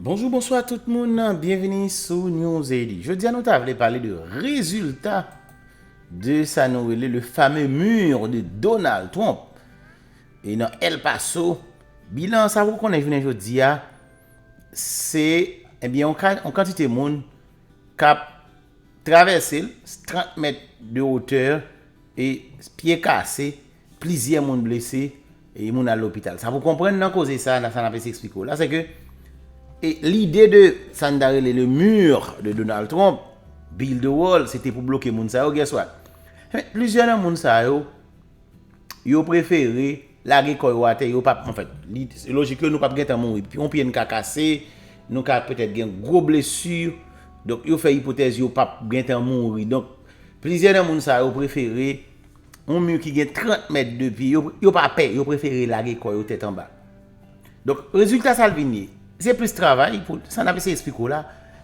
Bonjou bonswa tout moun, byenvini sou Newzady. Jodi a nou ta vle pale de rezilta de sa nou rele le fameux mur de Donald Trump e nan El Paso, bilan sa pou konnen jounen jodi a se ebyen yon kantite moun k ap travèse l, 30 mèt de hauteur e pye kase. Plizyè moun blese e moun al lopital. Sa pou konprann nan koze sa, sa n ap eseye eksplike w la, se ke lide de sa n ta rele le mur de Donald Trump, build a wall, se te pou bloke moun sa yo, guess what? Enben, plizyè nan moun sa yo, yo prefere lage kò yo atè, yo pa, anfèt, lojik yo nou pa p gen tan mouri. Yon pye n ka kase, nou ka petèt gen gwo blesi, donk yo fè ipotèz yo pa p gen tan mouri. Donk, plizyè nan moun sa yo prefere Yon mi ki gen 30 mèt de pi, yo pa pè, yo prefere lage kò yo tèt anba. Donk, rezilta sa l vin ye? Se plis travay pou, sa n ap eseye esplike w la,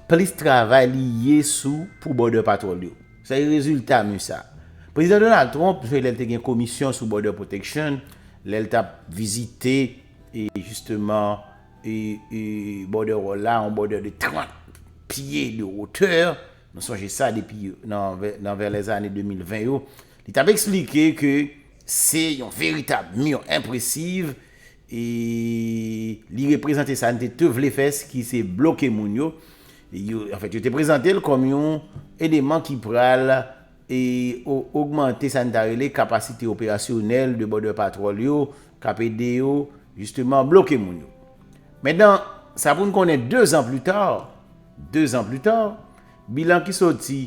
plis travay li ye sou pou Border Patrol yo. Se rezilta mi sa. Prezidan Donald Trump, lè l te gen komisyon sou Border Protection, lè l t ap vizite, e jisteman, e, e, Border Wall la, yon Border de 30 pye de wotè, Nou sonje sa depi nan vè lèzane 2020 yo, li t ap eksplike ke se yon veritab mi enpresiv e li reprezante sa n te te vle fè ki se bloke moun yo. Anfèt, yo te prezante l kòm yon eleman ki pral e ogmante sa n ta rele kapasite operasyonèl de Border Patrol yo k ap ede yo jisteman bloke moun yo. Men nan sa pou n konnen dezan plita, 2 zan pli ta, bilan ki soti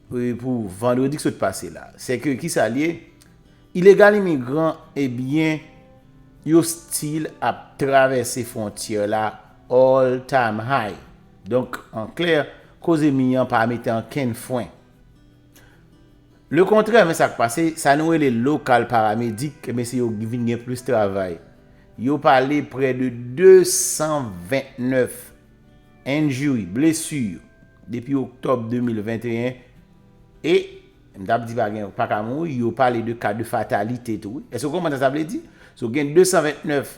pou vandredi ki sot pase la, se ke ki sa l ye, ilegal imigran e byen yo stil ap travèse fwontyè la all time high. Donk an klè, koze mi an pa mete ankenn fwen. Le kontrè men sa k pase, sa nou rele lokal paramedik e byen se yo ki vin gen plis travay. Yo pale prè de 229 Injury, blessure, depi Octobre 2021, e, m tap di pa gen, pa ka mouri, yo pale de cas de fatalite tou wi. Èske w konprann sa sa vle di? So gen 229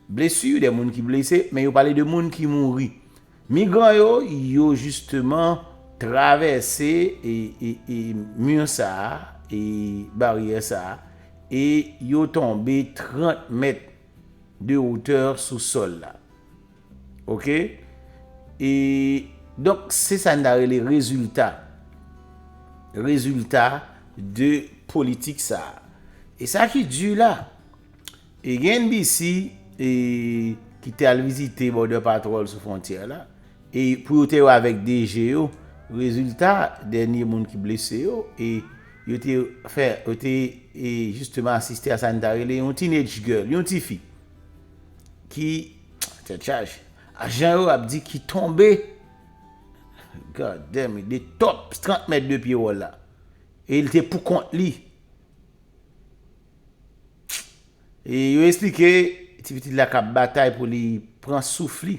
blessure, de moun ki blese, men yo pale de moun ki mouri. Migran yo, yo jisteman travèse e, e, e mur sa a, e baryè sa a, e yo tonbe 30 mèt de hauteur sou sòl la. Ok e donk se sa n ta rele rezilta rezilta de politik sa a e sa ki di la e gen NBC e ki te al vizite Border Patrol sou fwontyè la e pou yo te wè avèk DG yo rezilta dènye moun ki blese yo e yo te fè yo te e jisteman asiste a sa n ta rele yon teenage girl yon tifi ki Tèt chaj. Ajan yo ap di ki tonbe. God damn it, 2 top 30 mèt de pye wòl la. E li te pou kont li. E yo esplike ti pitit la kap batay pou li pran souf li.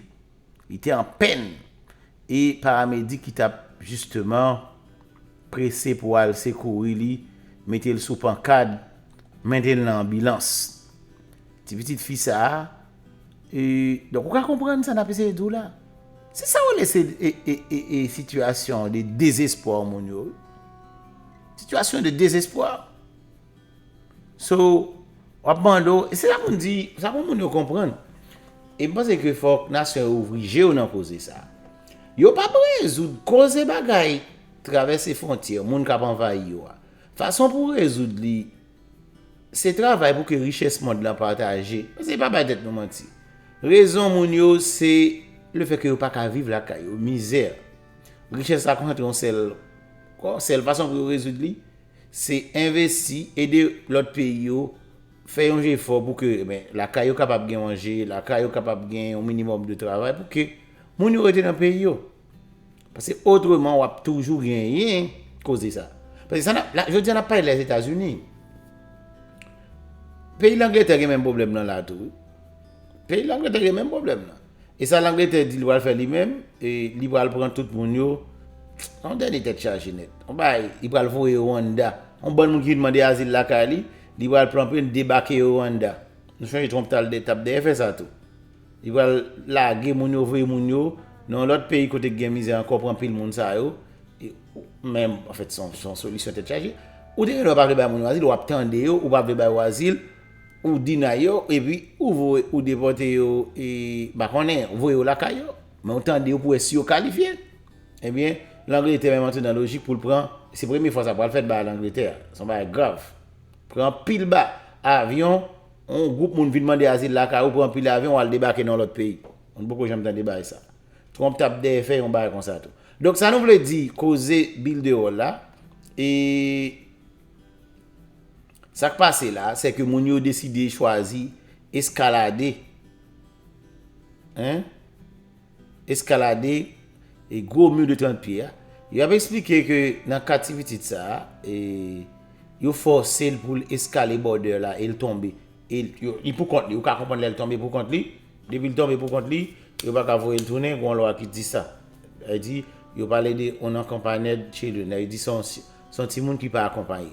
Li te an pèn. E paramedik ki tap jisteman prese pou al sekouri li, mete l sou pankad, mete l nan anbilans. Ti pitit fi sa a, e, donk ou ka konprann sa n ap eseye di w la. Se sa w rele se e, e, e, e sitiyasyon de dezespwa moun yo wi. Sitiyasyon de dezespwa. So, w ap mande w, e se sa pou n di, sa pou moun yo konprann. E m panse ke fòk nasyon yo ouvri je yo nan koze sa a. Yo pa p rezoud koze bagay travèse fwontyè, moun k ap anvayi yo a. Fason pou rezoud li. Se travay pou ke richès mond lan pataje. Paske pa bay tèt nou manti. Rezon moun yo se le fè ke yo pa ka viv lakay yo, mizè. Richès la konsantre yon sèl kò, sèl fason pou yo rezoud li, se envesti, ede lòt peyi yo, fè yon jefò pou ke men lakay yo kapab gen manje, lakay yo kapab gen yon minimòm de travay pou ke moun yo rete nan peyi yo. Paske otreman w ap toujou genyen koze sa. Paske sa n ap, la, jodi a n ap pale Lèzetazini. Peyi Langletè gen menm pwoblèm nan la tou wi. Peyi Langletè gen menm pwoblèm nan. E sa Langletè di l pral fè li menm, e li pral pran tout moun yo, se yon dènye tèt chaje nèt. Yon bagay, li pral voye yo Rwanda. Yon bann moun ki vin mande azil lakay li, li pral pran pwen debake yo Rwanda. Nou sonje Trump t al, t ap dèyè fè sa tou. Li pral lage moun yo voye moun yo nan yon lòt peyi kote ki gen mizè ankò pran pil moun sa yo men anfèt se yon solisyon tèt chaje ou te gen dwa pa vle bay moun yo azil wap tande yo ou pa vle bay yo azil ou dinay yo epi ou voye ou depòte yo e pa konnen ou voye yo lakay yo men ou tande yo pou wè si yo kalifye ebyen langletè menm antre nan lojik poul pran se premye fwa sa pral fèt bagay langletè a se yon bagay grav pran pil ba avyon On gwoup moun vin mande azil lakay ou, pran anpil avyon ou al debake nan yon lòt peyi. Mwen poko janm tande bagay sa. Trump tap dèyè fè yon bagay konsa tou. Donk sa nou vle di koze Builderall la e sa k pase la se ke moun yo deside chwazi eskalade. Hein? eskalade e gwo mur de 30 pye a, yo ap esplike ke nan ka ti pitit sa a, e yo fòse l pou l eskale border la e l tonbe, e li pou kont li, ou ka konprann lè l tonbe pou kont li, depi l tonbe pou kont li, yo pa ka voye l tounen, gen yon lwa ki di sa. Sa vle di, yo pale de unaccompained children, sa vle di se yon, se yon timoun ki pa akonpaye.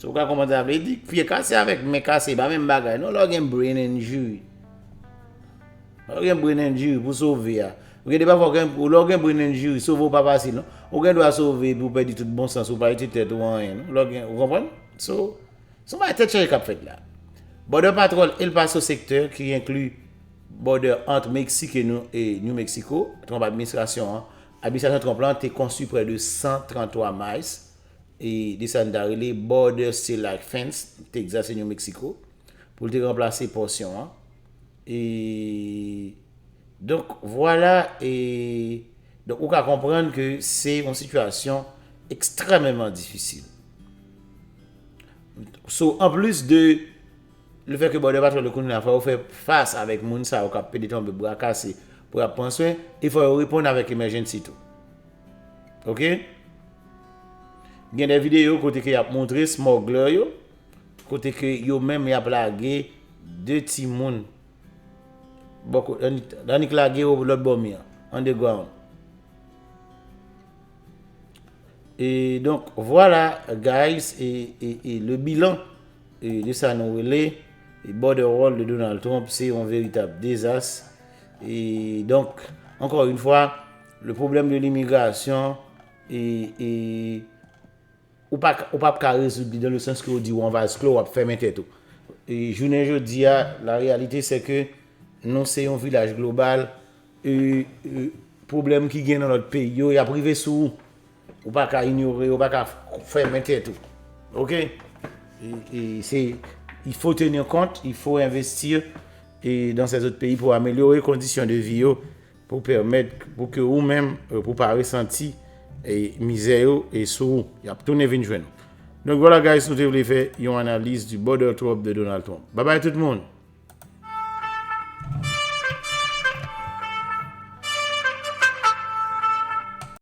So ou ka konprann sa vle di, pye kase avèk men kase e pa menm bagay non lè ou gen brain injury. Lè ou gen brain injury pou sove a, ou gen de pafwa gen lè ou gen brain injury sove ou pa fasil non. Ou gen dwa sove epi ou pèdi tout bon sans ou pa itil tèt ou anyen non. Lè ou gen, ou konprann? So, son bagay tèt chaje k ap fèt la. Border Patrol El Paso Sector ki enkli bòdè ant Meksik e New Mexico, Trump administrasyon an, administrasyon Trump lan te konstwi prè de 133 miles e de sa n ta rele Border Seal like Fence, Texas e New Mexico, pou l te ranplase pòsyon an, e donk vwala, e donk ou ka konprann ke se yon sitiyasyon ekstrèmeman difisil. So, anplis de lefè ke Border Patrol yo kounye a fò yo fè fas avèk moun sa yo k ap pede tonbe bra kase pou y ap pran swen, e fò yo reponn avèk emèjènsi tou. Ok. Gen de videyo kote ke yap montre smuggler yo, kote ke yo menm yap lage 2 timoun bò kot, annik lage yo lòt bò mi an, underground. E donk vwala guys e e le bilan e de sa nou rele e borderwall de Donald Trump se yon veritab dezas e donk ankò yon fwa Le problème de l'immigration ou pap ka rezoud li dans le sens ke ou di ou an vase klo wap fèmen tèt ou. Jounen jodi a la réalité c'est ke nou se yon vilaj global et problème ki gen nan lòt peyi yo yap rive sou ou. Ou pa ka inyore yo, ou pa ka fèmen tèt ou. Ok? Il faut tenir compte, il faut investir dans ces autres pays pou améliorer conditions de vie yo. Pou pèmèt pou ke ou menm pou pa resanti mizè yo sou ou. Yap tounen vin jwenn ou. Donk vwala guys nou te vle fè yon analiz di border trump de Donald Trump. Babay tout moun!